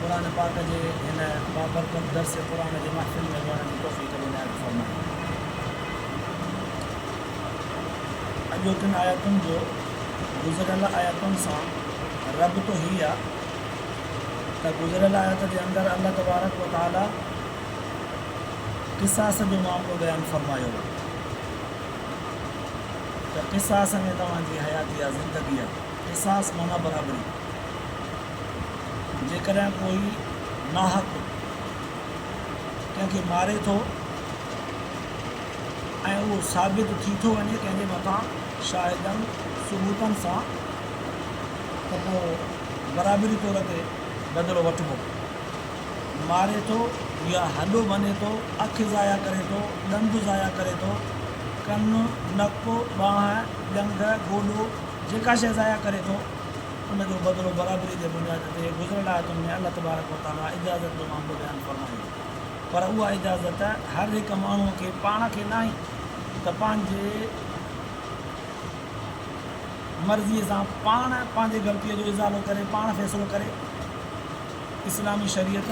قرآن پاڪ جي هن بابرڪت درس قرآن جي محفل ۾ ويهڻ جي توفيق عنايت فرمائي. اڳوٽن آيتن جو گذريل آيتن سان ربط هي آ ته گذريل آيت جي اندر الله تبارڪ و تعالي قصاص جو معاملو بيان فرمايو آ ته قصاص ۾ توهان جي حياتي آ، زندگي آ. قصاص معنيٰ برابري. جيڪڏهن ڪوئي ناحق ڪنهن کي ماري ٿو ۽ اهو ثابت ٿي ٿو وڃي ڪنهن جي مٿان شاهدن ثبوتن سان ته پوء برابري طور تي بدلو وٺبو. ماري ٿو يا هڏو ڀڃي ٿو، اک ضايع ڪري ٿو، ڏند ضايع ڪري ٿو، ڪن، نڪ، ٻانهن، ڄنگهه، گوڏو جيڪا شيء ضايع ڪري ٿو، ان جو بدلو برابري جي بنياد تي گذريل آيتن ۾ الله تبارڪ و تعاليٰ اجازت جو معاملو بيان فرمائي ٿو پر اها اجازت هر هڪ ماڻهو کي پاڻ کي ناهي ته پنهنجي مرضي سان پاڻ پنهنجي غلطي جو ازالو ڪري پاڻ فيصلو ڪري اسلامي شريعت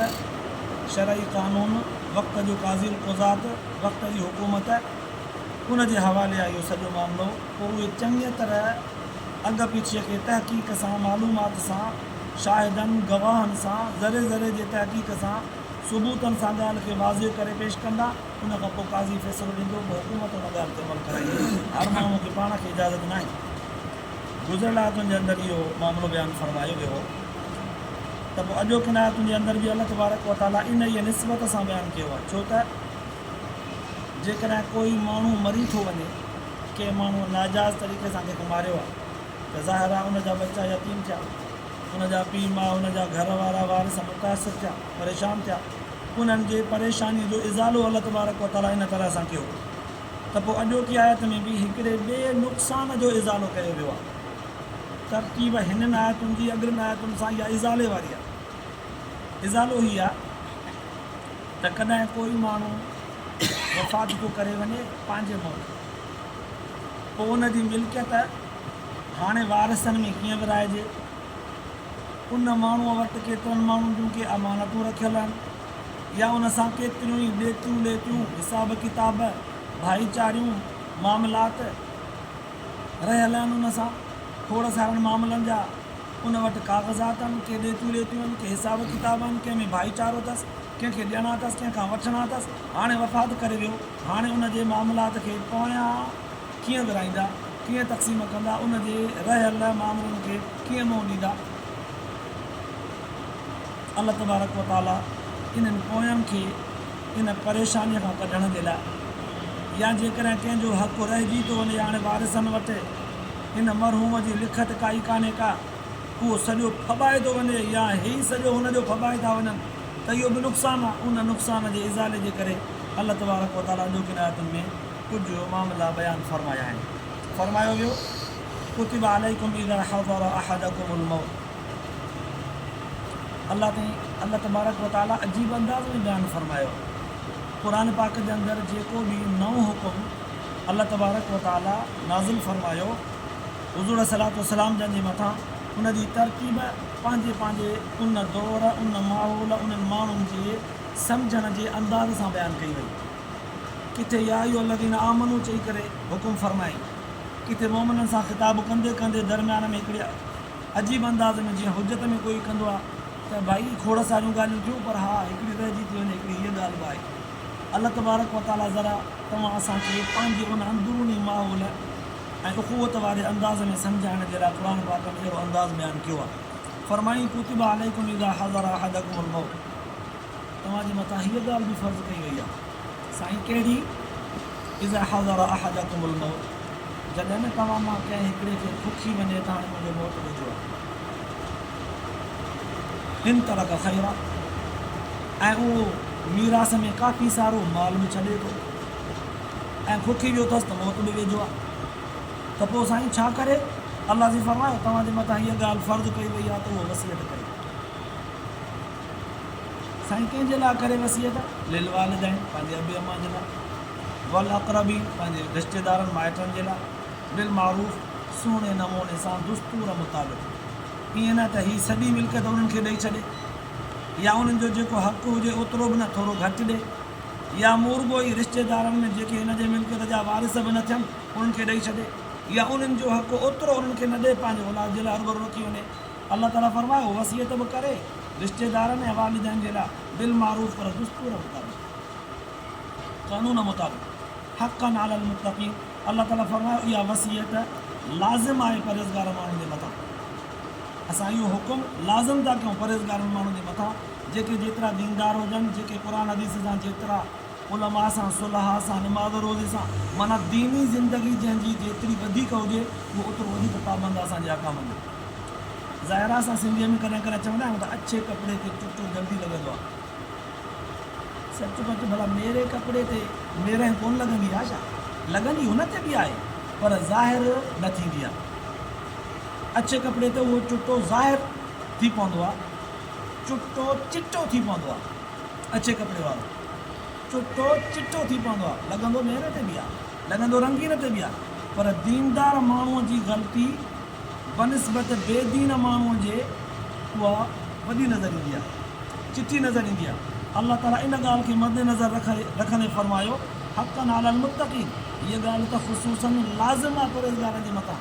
شرعي قانون وقت جو قاضي القضات وقت جي حڪومت ان جي حوالي اهو سڄو معاملو پر اهي چڱيء طرح اڳ پڇيء کي تحقيق سان، معلومات سان، شاهدن، گواهن سان، ذري ذري جي تحقيق سان، ثبوتن سان ڳالهه کي واضح ڪري پيش ڪندا. ان کان پوء قاضي فيصلو ڏيندو ته حڪومت ان ڳالهه تي عمل ڪري. هر ماڻهوء کي پاڻ کي اجازت ناهي. گذريل آيتن جي اندر اهو معاملو بيان فرمايو ويو هو ته پوء اڄوڪين آيتن جي اندر به الله تبارڪ وتعاليٰ انهيء نسبت سان بيان ڪيو آهي، ڇو ته. جيڪڏهن ڪوئي ماڻهو مري ٿو وڃي، ڪنهن ماڻهوء ناجائز طريقي سان ڪنهن کي ماريو آهي ته ظاهر آهي ان جا ٻچا يتيم ٿيا، ان جا پيء ماء، ان جا گهر وارا وارث متاثر ٿيا، پريشان ٿيا، انهن جي پريشانيء جو ازالو الله تبارڪ و تعاليٰ ان طرح سان ڪيو ته پوء اڄوڪي آيت ۾ به هڪڙي ٻئي نقصان جو ازالو ڪيو ويو آهي. ترتيب هنن آيتن جي اڳلين آيتن سان اها ازالي واري آهي. ازالو هي آهي. ته ڪڏهن ڪوئي ماڻهو وفات پيو ڪري وڃي پنهنجي ملڪ ۾ پوء ان جي ملڪيت هاڻي وارثن ۾ ڪيئن ورهائجي؟ ان ماڻهوء وٽ ڪيترن ماڻهن جون ڪي امانتون رکيل آهن يا ان سان ڪيتريون ئي ڏيتيون ليتيون، حساب ڪتاب، ڀائيچاريون معاملات رهيل آهن ان سان ٿورس هارن معاملن جا. ان وٽ ڪاغذات آهن، ڪي ڏيتيون ليتيون آهن، ڪي حساب ڪتاب آهن، ڪنهن ۾ ڀائيچارو اٿس، ڪنهن کي ڏيڻا اٿس، ڪنهن کان وٺڻا اٿس، هاڻي وفات ڪري ويو، هاڻي ان جي معاملات کي پويان ڪيئن ورهائيندا، ڪيئن تقسيم ڪندا، ان جي رهيل مامرن کي ڪيئن منهن ڏيندا؟ الله تبارڪ و تعاليٰ انهن پوين کي ان پريشانيء کان ڪڍڻ جي لاء يا جيڪڏهن ڪنهن جو حق رهجي ٿو وڃي هاڻي وارثن وٽ، هن مرحوم جي لکت ڪائي ڪانهي ڪا، اهو سڄو ڦٻائي ٿو وڃي يا هيئي سڄو هن جو ڦٻائي ٿا وڃن ته اهو به نقصان آهي. ان نقصان جي ازالي جي ڪري الله تبارڪ وتعاليٰ اڄوڪين آيتن ۾ ڪجهه معاملا بيان فرمايا آهن. فرمايو ويو، ڪتب عليڪم اذا حضر احدڪم الموت الله تائين الله تبارڪ وتعاليٰ عجيب انداز ۾ بيان فرمايو آهي. قرآن پاڪ جي اندر جيڪو به نئون حڪم الله تبارڪ و تعاليٰ نازل فرمايو، حضور عليه الصلوة والسلام جن جي مٿان ان جي ترتيب پنهنجي پنهنجي ان دور، ان ماحول، انهن ماڻهن جي سمجهڻ جي انداز سان بيان ڪئي وئي. ڪٿي يا ايها الذين آمنوا چئي ڪري حڪم فرمائي، ڪٿي مؤمنن سان خطاب ڪندي ڪندي درميان ۾ هڪڙي عجيب انداز ۾ جيئن حجت ۾ ڪوئي ڪندو آهي ته ڀائي، کوڙ ساريون ڳالهيون ٿيون پر ها هڪڙي رهجي ٿي وڃي، هڪڙي هيء ڳالهه به آهي. الله تبارڪ و تعاليٰ ذرا توهان اسان کي پنهنجي ان اندروني ماحول ۽ اخوت واري انداز ۾ سمجهائڻ جي لاء قرآن پاڪ ۾ اهڙو انداز بيان ڪيو آهي فرمائين ڪتب عليکم اذا حضر احدکم الموت توهان جي مٿان هيء ڳالهه به فرض ڪئي وئي آهي سائين ڪهڙي اذا حضر احدکم الموت جڏهن نه توهان مان ڪنهن هڪڙي کي ٿٿي وڃي ته هاڻي منهنجي موت ڏجو آهي ان ترڪ خيرا. ۽ اهو ميراث ۾ ڪافي سارو مال به ڇڏي ٿو ۽ کوکي ويو اٿس ته موت به ويجهو آهي ته پوء سائين ڇا ڪري؟ الله جي فرمايو، توهان جي مٿان هيء ڳالهه فرض ڪئي وئي آهي ته اهو وصيت ڪريو. سائين ڪنهن جي لاء ڪري وصيت؟ للوالدين، پنهنجي ابي امان جي لاء، والاقربين، پنهنجي رشتيدارن مائٽن جي لاء، بالمعروف، سهڻي نموني سان، دستور مطابق، ائين نه ته هي سڄي ملڪيت انهن کي ڏئي ڇڏي. يا انهن جو جيڪو حق هجي اوترو به نه ٿورو گهٽ ڏئي يا مون رڳو ئي رشتيدارن ۾ جيڪي هن جي ملڪيت جا وارث به نه ٿين انهن کي ڏئي ڇڏي يا انهن جو حق اوترو انهن کي نه ڏئي پنهنجي اولاد جي لاء هرڀرو رکي وڃي الله تعاليٰ فرمايو وصيت به ڪري رشتيدارن ۽ والدين جي لاء بالمعروف پر دستور مطابق قانون مطابق حقًا علي المتقين الله تعاليٰ فرمايو اها وصيت لازم آهي پرهيزگار ماڻهن جي مٿان اسان اهو حڪم لازم ٿا ڪيون پرهيزگار انهن ماڻهن جي مٿان جيڪي جيترا ديندار هجن جيڪي قرآن حديث سان جيترا علماء سان صلحاء سان نماز روزي سان معنيٰ ديني زندگي جنهن جي جيتري وڌيڪ هجي اهو اوترو وڌيڪ پابند آهي اسان جي احڪامن جو ظاهر آهي اسان سنڌيء ۾ ڪڏهن ڪڏهن چوندا آهيون ته اڇي ڪپڙي کي چٽو جلدي لڳندو آهي سچ پچ ڀلا ميري ڪپڙي تي ميرهه ڪونه لڳندي آهي ڇا لڳندي هن تي به آهي پر ظاهر نه ٿيندي آهي. اڇي ڪپڙي تي اهو چٽو ظاهر ٿي پوندو آهي. چٽو چٽو ٿي پوندو آهي. اڇي ڪپڙي وارو چٽو چٽو ٿي پوندو آهي. لڳندو مير تي به آهي. لڳندو رنگين تي به آهي. پر ديندار ماڻهوء جي غلطي بنسبت بي دين ماڻهوء جي اها وڏي نظر ايندي آهي. چٽي نظر ايندي آهي. الله تعاليٰ ان ڳالهه کي مدنظر رکندي فرمايو، حقًا علي المتقين، هيء ڳالهه ته خصوصاً لازم آهي پرهيزگارن جي مٿان.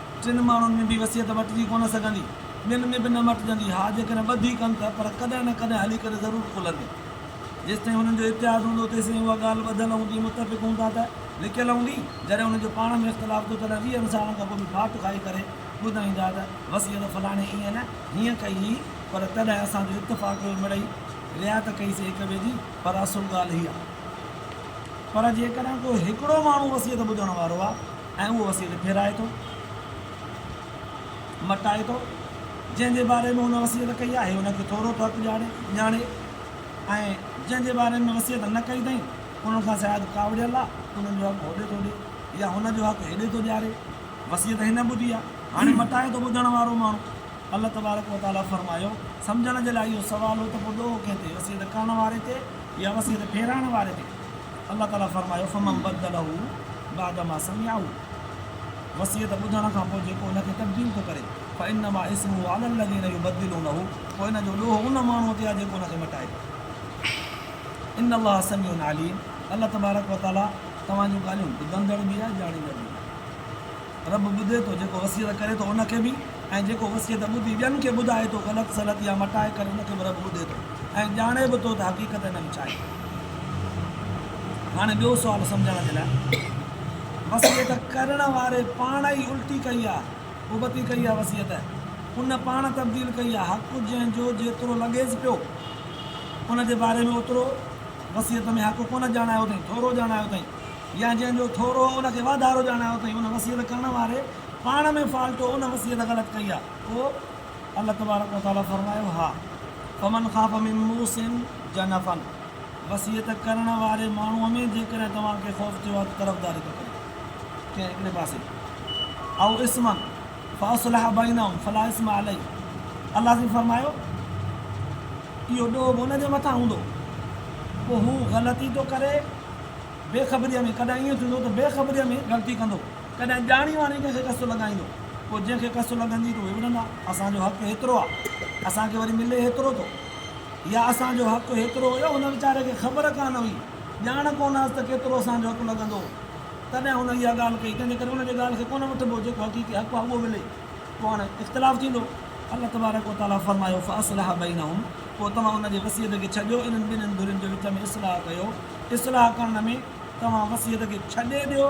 ٽن ماڻهن ۾ به وصيت وٽجي ڪونه سگهندي. ٻين ۾ به نه مٽجندي. ها جيڪڏهن ٻڌي ڪن ته پر ڪڏهن نه ڪڏهن هلي ڪري ضرور کلندي. جيستائين هنن جو اتحاد هوندو تيسين اها ڳالهه ٻڌل هوندي، متفق هوندا ته لڪيل هوندي. جڏهن هنن جو پاڻ ۾ اختلاف ٿيو تڏهن ويهن سالن کان پوء به ڦاٽ کائي ڪري ٻڌائيندا ته وصيت فلاڻي ايئن نه هيئن ڪئي هئي پر تڏهن اسان جو اتفاق هيو مڙئي رعايت ڪئي سي هڪ ٻئي جي پر اصل ڳالهه هيء آهي. پر جيڪڏهن ڪو هڪڙو ماڻهو وصيت ٻڌڻ وارو آ ۽ اهو وسيلي ڦيرائي ٿو، مٽائي ٿو، جنهن جي باري ۾ هن وصيت ڪئي آهي، ان کي ٿورو فرق ڄاڻي، ڄاڻي، ۽ جنهن جي باري ۾ وصيت نه ڪئي اٿئين، انهن کان شايد ڪاوڙيل آ، انهن جو حق هوڏي ٿو ڏي، يا هن جو حق هيڏي ٿو ڏياري، وصيت هن ٻڌي آ، هاڻي مٽائي ٿو ٻڌڻ وارو ماڻهو. الله تبارڪ و تعاليٰ فرمايو، سمجهڻ جي لاء اهو سوال هو ته پوء ڏوهه ڪنهن تي، وصيت ڪرڻ واري تي يا وصيت ڦيرائڻ واري تي؟ الله تعالي فرمايو فمن بدله بعد ما سمعه وصيت ٻڌڻ کان پوء جيڪو ان کي تبديل ٿو ڪري فانما اسمه علي الذين يبدلونه پوء ان جو ڏوهه ان ماڻهوء تي آهي جيڪو ان کي مٽائي ٿو ان الله سميع عليم الله تبارڪ وتعالي توهان جون ڳالهيون ٻڌندڙ به آهي ڄاڻيندڙ به آهي. رب ٻڌي ٿو جيڪو وصيت ڪري ٿو ان کي به ۽ جيڪو وصيت ٻڌي ٻين کي ٻڌائي ٿو غلط سلط يا مٽائي ڪري ان کي به رب ٻڌي ٿو ۽ ڄاڻي به ٿو ته حقيقت ان وچ آهي. هاڻي ٻيو سوال سمجهڻ جي لاء وصيت ڪرڻ واري پاڻ ئي الٽي ڪئي آهي ابتي ڪئي آهي وصيت ان پاڻ تبديل ڪئي آهي حق جنهن جو جيترو لڳيس پيو ان جي باري ۾ اوترو وصيت ۾ حق ڪونه ڄاڻايو اٿئين ٿورو ڄاڻايو اٿئين يا جنهن جو ٿورو هو ان کي واڌارو ڄاڻايو اٿئي ان وصيت ڪرڻ واري پاڻ ۾ فالٽو ان وصيت غلط ڪئي آ پوء الله تبارڪ وتعالي فرمايو ها فمن خاف من موص جنفا وصيت ڪرڻ واري ماڻهو ۾ جيڪڏهن توهان کي خوف ٿيو آ ته طرفداري ٿو ڪري ڪنهن هڪڙي پاسي او اثما فاصلح بينهم فلا اثم عليه الله سين فرمايو اهو ڏوهه به ان جي مٿان هوندو پوء هو غلطي ٿو ڪري بي خبريء ۾ ڪڏهن ائين ٿيندو ته بي خبريء ۾ غلطي ڪندو، ڪڏهن ڄاڻي واڻي ڪنهن کي ڪس لڳائيندو، پوء جنهن کي ڪس لڳندي ته اهي به ننڍا، اسان جو حق هيترو آ، اسان کي وري ملي هيترو ٿو، يا اسان جو حق هيترو هيو، هن ويچاري کي خبر ڪانه هئي، ڄاڻ ڪونه هئس ته ڪيترو اسان جو حق لڳندو، تڏهن هن اها ڳالهه ڪئي، تنهنجي ڪري ان جي ڳالهه کي ڪونه وٺبو، جيڪو حقيقي حق آ اهو ملي، پوء هاڻي اختلاف ٿيندو، الله تبارڪ و تعاليٰ فرمايو، فاصلح بينهم، پوء توهان ان جي وصيت کي ڇڏيو، انهن ٻنهين ڌرين جي وچ ۾ اصلاح ڪيو. اصلاح ڪرڻ ۾ توهان وصيت کي ڇڏي ڏيو،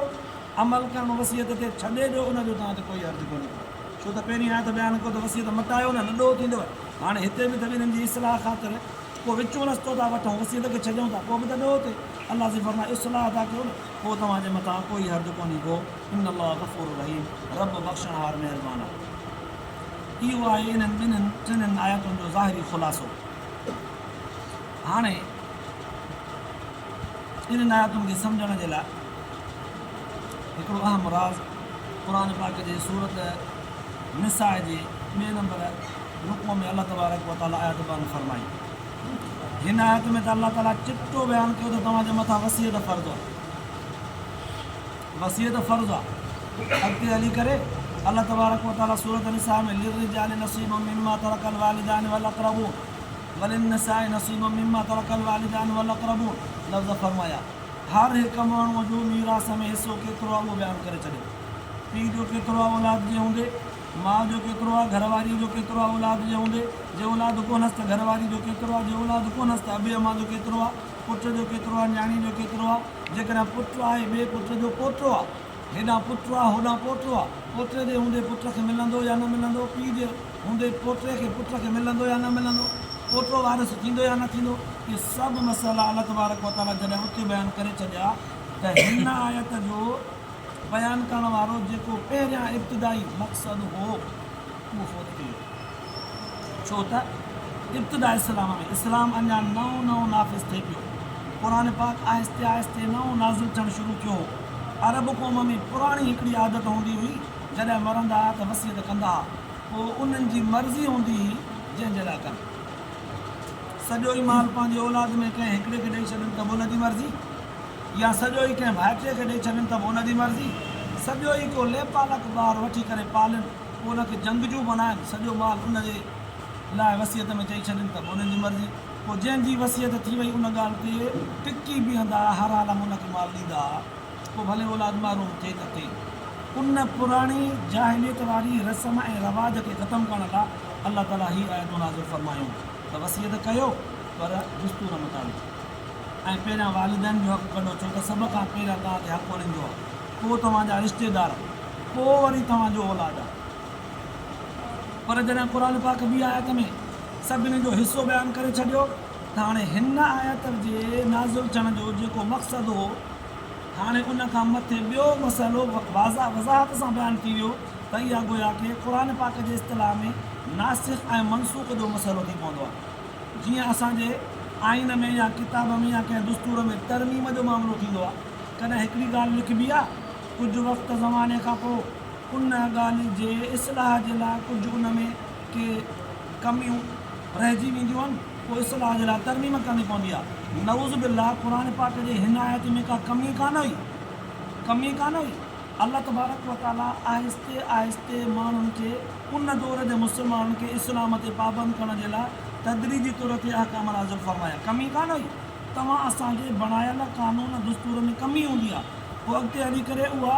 عمل ڪرڻ وصيت تي ڇڏي ڏيو ان جو توهان تي ڪوئي حرج ڪونهي ڪو ڇو ته پهرين آيت بيان ڪيو ته وصيت مٽايو نه نه ڏوهه ٿيندو هاڻي هتي به ته انهن جي اصلاح خاطر ڪو وچون رستو ٿا وٺون وصيت کي ڇڏيون ٿا پوء به ته ڏوهه تي الله جي فرمائي اصلاح ٿا ڪيو نه پوء توهان جي مٿان ڪوئي حرج ڪونهي ڪو ان الله غفور رحيم رب بخشڻهار مهربان آهي اهو آهي انهن ٻنهن ٽنهن آيتن جو ظاهري خلاصو. هاڻي انهن آيتن کي سمجهڻ جي لاء هڪڙو اهم راز قرآن پاڪ جي سورت نساء جي ٻئي نمبر رڪوع ۾ الله تبارڪ و تعاليٰ آيت بيان فرمائي. هن آيت ۾ ته الله تعاليٰ چٽو بيان ڪيو ته توهان جي مٿان وصيت فرض آهي. وصيت فرض آهي. اڳتي هلي ڪري الله تبارڪ و تعاليٰ سورت نساء ۾ للرجال نصيب مما ترڪ الوالدان والاقربون وللنساء نصيب مما ترک الوالدان والاقربون لفظ فرمايا. هر هڪ ماڻهوء جو ميراث ۾ حصو ڪيترو آهي اهو بيان ڪري ڇڏيو. پيء جو ڪيترو آهي اولاد جي هوندي؟ ماء جو ڪيترو آهي؟ گهر واريء جو ڪيترو آهي اولاد جي هوندي؟ جي اولاد ڪونهس ته گهر واريء جو ڪيترو آهي؟ جي اولاد ڪونهس ته ابي امان جو ڪيترو آهي؟ پٽ جو ڪيترو آهي؟ نياڻيء جو ڪيترو آهي؟ جيڪڏهن پٽ آهي ٻئي پٽ جو پوٽو آهي. هيڏانهن پٽ آهي هوڏانهن پوٽو آهي. پوٽي جي هوندي پٽ کي ملندو يا نه ملندو؟ پيء جي. هوندي پوٽي کي پٽ کي ملندو يا نه ملندو، پوٽو وارث ٿيندو يا نه ٿيندو، اهي سڀ مسئلا الله تبارڪ و تعاليٰ جڏهن اتي بيان ڪري ڇڏيا ته هن آيت جو بيان ڪرڻ وارو جيڪو پهريان ابتدائي مقصد هو اهو فوت ٿي ويو ڇو ته ابتدا اسلام ۾ اسلام اڃا نئون نئون نافذ ٿئي پيو قرآن پاڪ آهستي آهستي نئون نازل ٿيڻ شروع ٿيو هو عرب قوم ۾ پراڻي هڪڙي عادت هوندي هئي جڏهن مرندا ها ته وصيت ڪندا ها پوء انهن جي مرضي هوندي هئي جنهن جي لاء ڪن. سڄو ئي مال پنهنجي اولاد ۾ ڪنهن هڪڙي کي ڏئي ڇڏن ته به ان جي مرضي يا سڄو ئي ڪنهن ڀائٽي کي ڏئي ڇڏن ته به ان جي مرضي. سڄو ئي ڪو ليپالڪ ٻار وٺي ڪري پالين پوء ان کي جنگجو بڻائين سڄو مال ان جي لاء وصيت ۾ چئي ڇڏين ته به انهن جي مرضي. پوء جنهن جي وصيت ٿي وئي ان ڳالهه تي ٽڪي بيهندا ها هر عالم ان کي مال ڏيندا ها. پوء ڀلي اولاد مارو ٿئي ته ٿئي. ان پراڻي جاهليت واري رسم ۽ رواج کي ختم ڪرڻ لاء الله تعاليٰ هي آيتون نازل فرمايون ته وصيت ڪيو پر دستور مطابق ۽ پهريان والدين جو حق ڪڍو ڇو ته سڀ کان پهريان توهان تي حق انهن جو آهي پوء توهان جا رشتيدار پوء وري توهان جو اولاد آهي پر جڏهن قرآن پاڪ ٻي آيت ۾ سڀني جو حصو بيان ڪري ڇڏيو. ته هاڻي هن آيت جي نازل ٿيڻ جو جيڪو مقصد هو، هاڻي ان کان مٿي ٻيو مسئلو واضح وضاحت سان بيان ٿي ويو ته اها گويا ڪي قرآن پاڪ جي اصطلاح ۾ ناسخ ۽ منسوخ جو مسئلو ٿي پوندو آهي. جيئن اسان جي آئين ۾ يا ڪتاب ۾ يا ڪنهن دستور ۾ ترميم جو معاملو ٿيندو آهي، ڪڏهن هڪڙي ڳالهه لکبي آهي، ڪجهه وقت زماني کان پوء ان ڳالهه جي اصلاح جي لاء ڪجهه ان ۾ ڪي ڪميون، رهجي وينديون آهن پوء اصلاح جي لاء ترميم ڪرڻي پوندي آهي نعوذ بالله قرآن پاڪ جي هن آيت ۾ ڪا ڪمي ڪانه هئي ڪمي ڪانه هئي الله تبارڪ و تعاليٰ آهستي آهستي ماڻهن کي ان دور جي مسلمانن کي اسلام تي پابند ڪرڻ جي لاء تدريجي طور تي احڪام نازل فرمايا ڪمي ڪانه هئي توهان اسان جي بڻايل قانون دستور ۾ ڪمي هوندي آهي پوء اڳتي هلي ڪري اها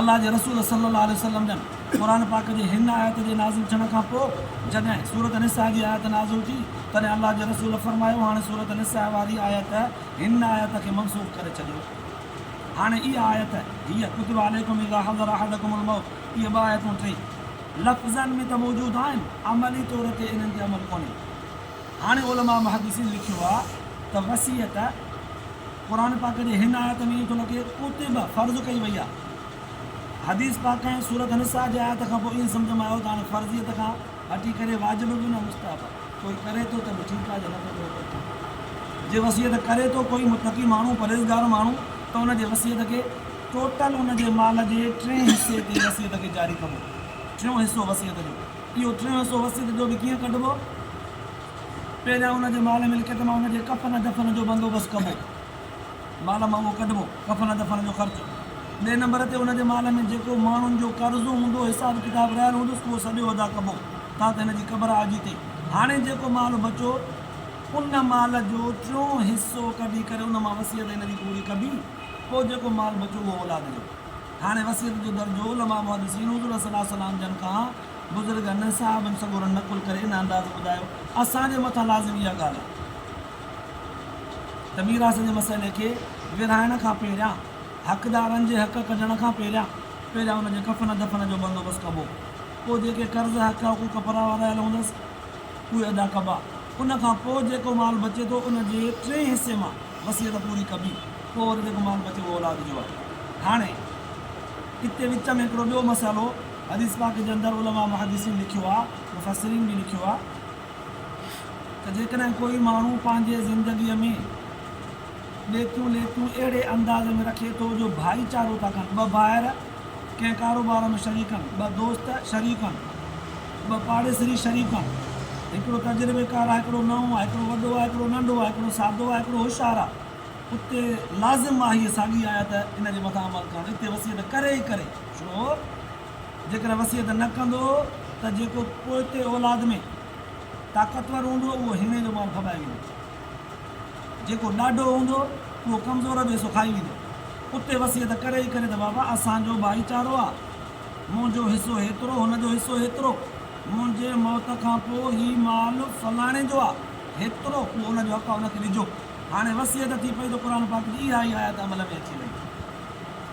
الله جي رسول صلّي الله عليه وسلّم جن قرآن پاڪ جي هن آيت جي نازل ٿيڻ کان پوء جڏهن سورة النّساء جي آيت نازل ٿي تڏهن الله جي رسول فرمايو هاڻي سورة النّساء واري آيت هن آيت کي منسوخ ڪري ڇڏيو هاڻي اها آيت هيء ڪتب عليڪم اذا حضر احدڪم الموت اهي ٻه آيتون ٽي لفظن ۾ ته موجود آهن عملي طور تي انهن تي عمل ڪونهي هاڻي علماء محدّثين لکيو آهي ته وصيت قرآن پاڪ جي هن آيت ۾ ائين ٿو لڳي ته ڪتب فرض ڪئي وئي آهي. حديث پاڪ ۽ سورة النساء جي آيت کان پوء ائين سمجهه ۾ آيو ته هاڻي فرضيت کان هٽي ڪري واجب به نه مستحب آهي. ڪوئي ڪري ٿو ته به ٺيڪ آهي جي نه ٿو ڪري ته ٺيڪ آهي. جي وصيت ڪري ٿو ڪوئي متقي ماڻهو، پرهيزگار ماڻهو ته ان جي وصيت کي ٽوٽل ان جي مال جي ٽئين حصي تي وصيت کي جاري ڪبو. ٽيون حصو وصيت جو. اهو ٽيون حصو وصيت جو به ڪيئن ڪڍبو؟ پهريان ان جي مال ملڪيت مان ان جي ڪفن دفن جو بندوبست ڪبو، مال مان اهو ڪڍبو، ڪفن دفن جو خرچ، ٻئي نمبر تي ان جي مال ۾ جيڪو ماڻهن جو قرضو هوندو، حساب ڪتاب رهيل هوندس، اهو سڄو ادا ڪبو، تان ته هن جي قبر آجي ٿي. هاڻي جيڪو مال بچو، ان مال جو ٽيون حصو ڪڍي ڪري ان مان وصيت هن جي پوري ڪبي، پوء جيڪو مال بچو اهو اولاد جو. هاڻي وصيت جو درجو علماء محدثين حضور صلعم جن کان بزرگ انهن صحابن سڳورن نقل ڪري ان انداز ٻڌايو، اسان جي مٿان لازم اها ڳالهه آهي ته ميراث جي مسئلي کي ورهائڻ کان پهريان، حقدارن جي حق ڪڍڻ کان پهريان، پهريان ان جي ڪفن دفن جو بندوبست ڪبو، پوء جيڪي قرض، حق، حقوق پراوا رهيل هوندس، اهي ادا ڪبا، ان کان پوء جيڪو مال بچي ٿو، ان جي ٽئين حصي مان وصيت پوري ڪبي، پوء وري جيڪو مال بچي اهو اولاد جو آهي. هاڻي اتي وچ ۾ هڪڙو ٻيو مسئلو. حديث پاڪ جي اندر علماء محدثين لکيو آهي، مفسرين به لکيو آهي ته جيڪڏهن ڪوئي ماڻهو پنهنجي زندگيء ۾ ڏيتيون ليتيون اهڙي انداز ۾ رکي ٿو جو ڀائيچارو ٿا ڪن، ٻه ڀائر ڪنهن ڪاروبار ۾ شريڪ آهن، ٻه دوست شريڪ آهن، ٻه پاڙيسري شريڪ آهن، هڪڙو تجربيڪار آهي هڪڙو نئون آهي، هڪڙو وڏو آهي هڪڙو ننڍو آهي، هڪڙو سادو آهي هڪڙو هوشيار آهي، اتي لازم آهي هيء ساڳي آيت ان جي مٿان عمل ڪرڻ، اتي وصيت ڪري ئي ڪري. ڇو جيڪڏهن وصيت نه ڪندو ته جيڪو پوئتي اولاد ۾ طاقتور هوندو اهو هيڻي جو مال کٻائي ويندو. جيڪو ڏاڍو هوندو اهو ڪمزور جو حصو کائي ويندو. اتي وصيت ڪري ئي ڪري ته بابا اسان جو ڀائيچارو آ. منهنجو حصو هيترو هن جو حصو هيترو. منهنجي موت کان پوء هي مال فلاڻي جو آ. هيترو اهو ان جو حق آ ان کي ڏجو. هاڻي وصيت ٿي پئي ته قرآن پاڪ جي اها ئي آيت عمل ۾ اچي وئي.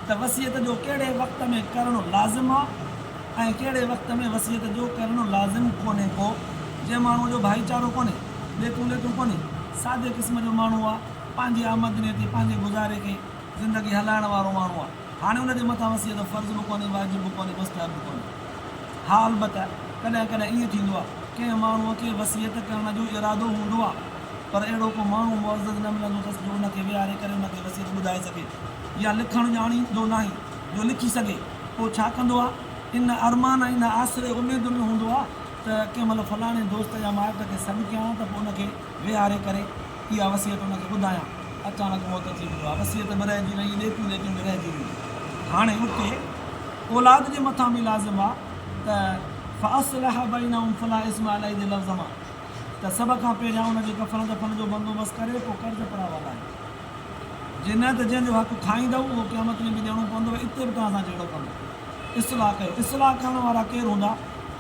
ته وصيت جو ڪهڙي وقت ۾ ڪرڻ لازم آ ۽ ڪهڙي وقت ۾ وصيت جو ڪرڻ لازم ڪونهي ڪو جنهن ماڻهو جو ڀائيچارو ڪونهي ڏيتون ليتون ڪونهي سادي قسم جو ماڻهو آ پنهنجي آمدني تي پنهنجي گذاري کي زندگي هلائڻ وارو ماڻهو آ هاڻي ان جي مٿان وصيت فرض به ڪونهي واجب به ڪونهي مستحب به ڪونهي ها البته ڪڏهن ڪڏهن ائين ٿيندو آ ڪنهن ماڻهو کي وصيت ڪرڻ جو ارادو هوندو آ. پر اهڙو ڪو ماڻهو معزز نه ملندو اٿس جو ان کي ويهاري ڪري ان کي وصيت ٻڌائي سگهي يا لکڻ ڄاڻي جو ناهي جو لکي سگهي پوء ڇا ڪندو آ ان ارمان ۽ ان آسري اميد ۾ هوندو آ ته ڪنهن مهل فلاڻي دوست يا مائٽ کي سڏ ڪيان ته پوء ان کي ويهاري ڪري اها وصيت ان کي ٻڌايان اچاڻڪ موت ٿي ويو آ وصيت به رهجي وئي ليڪون ليڪين به رهجي ويون هاڻي اتي اولاد جي مٿان به لازم آ ته فاصلح بينهم فلا اثم عليه جي لفظ مان ته سڀ کان پهريان ان جي ڪفن دفن جو بندوبست ڪري پوء قرض پرائي والائي جي نه ته جنهن جو حق کائيندؤ اهو قيامت ۾ به ڏيڻو پوندؤ اتي به توهان سان جهيڙو ڪندو اصلاح ڪيو اصلاح ڪرڻ وارا ڪير هوندا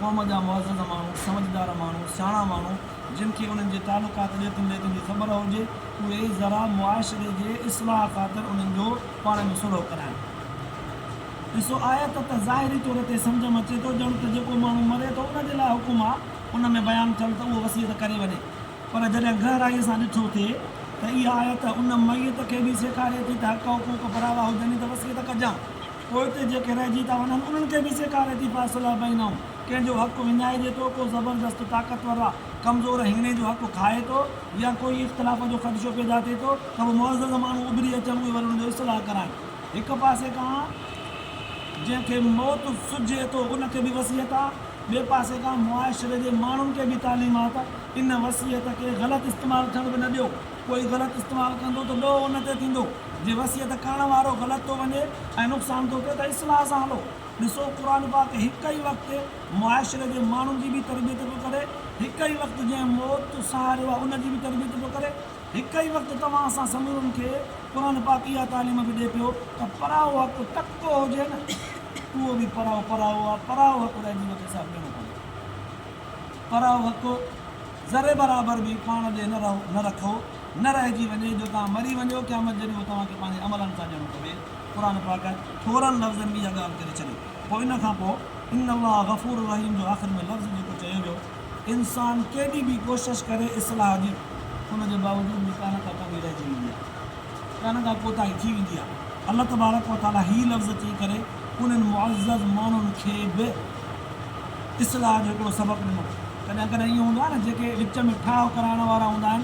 قوم جا معزز ماڻهو سمجهدار ماڻهو سياڻا ماڻهو جن کي انهن جي تعلقات ڏيتن ليتن جي خبر هجي اهي ذرا معاشري جي اصلاح خاطر انهن جو پاڻ ۾ صلح ڪرائن ڏسو آيت ته ظاهري طور تي سمجهه م اچي ٿو ڄڻ ته جيڪو ماڻهو مري ٿو ان جي لاء حڪم آ ان ۾ بيان ٿيل ته اهو وصيت ڪري وڃي پر جڏهن گهرائيء سان ڏٺو ٿئي ته اها آيت ان ميت کي به سيکاري ٿي ته حق حقوق پراوا هجن ئي ته وصيت ڪجان پوئتي جيڪي رهجي ٿا وڃن انهن کي به سيکاري ٿي فاصلح بينهم ڪنهن جو حق وڃائجي ٿو ڪو زبردست طاقتور آ ڪمزور هيڻي جو حق کائي ٿو يا ڪوئي اختلاف جو خدشو پيدا ٿئي ٿو ته به معزز ماڻهو اڀري اچن اهي وري ان جو اصلاح ڪرائين هڪ پاسي کان جنهن کي موت سجهي ٿو ان کي به وصيت آ ٻئي پاسي کان معاشري جي ماڻهن کي به تعليمات ان وصيت کي غلط استعمال ٿيڻ به نه ڏيو. ڪوئي غلط استعمال ڪندو ته ڏوهه ان تي ٿيندو. جي وصيت ڪرڻ وارو غلط ٿو وڃي ۽ نقصان ٿو ٿئي ته اصلاح سان هلو. ڏسو قرآن پاڪ هڪ ئي وقت معاشري جي ماڻهن جي به تربيت پيو ڪري، هڪ ئي وقت جنهن موت سهاريو آهي ان جي به تربيت پيو ڪري. هڪ ئي وقت توهان اسان سمورن کي قرآن پاڪ اها تعليم به ڏئي پيو ته پرايو حق ڪتو هجي نه اهو به پرايو پرايو آهي پرايو حق لاء جيون کي ساهه ڏيڻو پوندو پرايو حق ذري برابر به پاڻ ڏي نه رهو نه رکو نه رهجي وڃي جو توهان مري وڃو قيامت جڏهن اهو توهان کي پنهنجي عملن سان ڏيڻو پوي قرآن پاڪ ٿورن لفظن ۾ اها ڳالهه ڪري ڇڏي پوء ان کان پوء ان الله غفور رحيم جو آخر ۾ لفظ جيڪو چيو ويو انسان ڪيڏي به ڪوشش ڪري اصلاح جي ان جي باوجود به ڪانه ڪا ڪمي رهجي ويندي آهي ڪانه ڪا ڪوتاهي ٿي ويندي آهي الله تبارڪ و تعالي هي لفظ چئي ڪري انهن معزز ماڻهن کي به اصلاح جو هڪڙو سبق ڏنو ڪڏهن ڪڏهن ائين هوندو آهي نه جيڪي وچ ۾ ٺاهه ڪرائڻ وارا هوندا آهن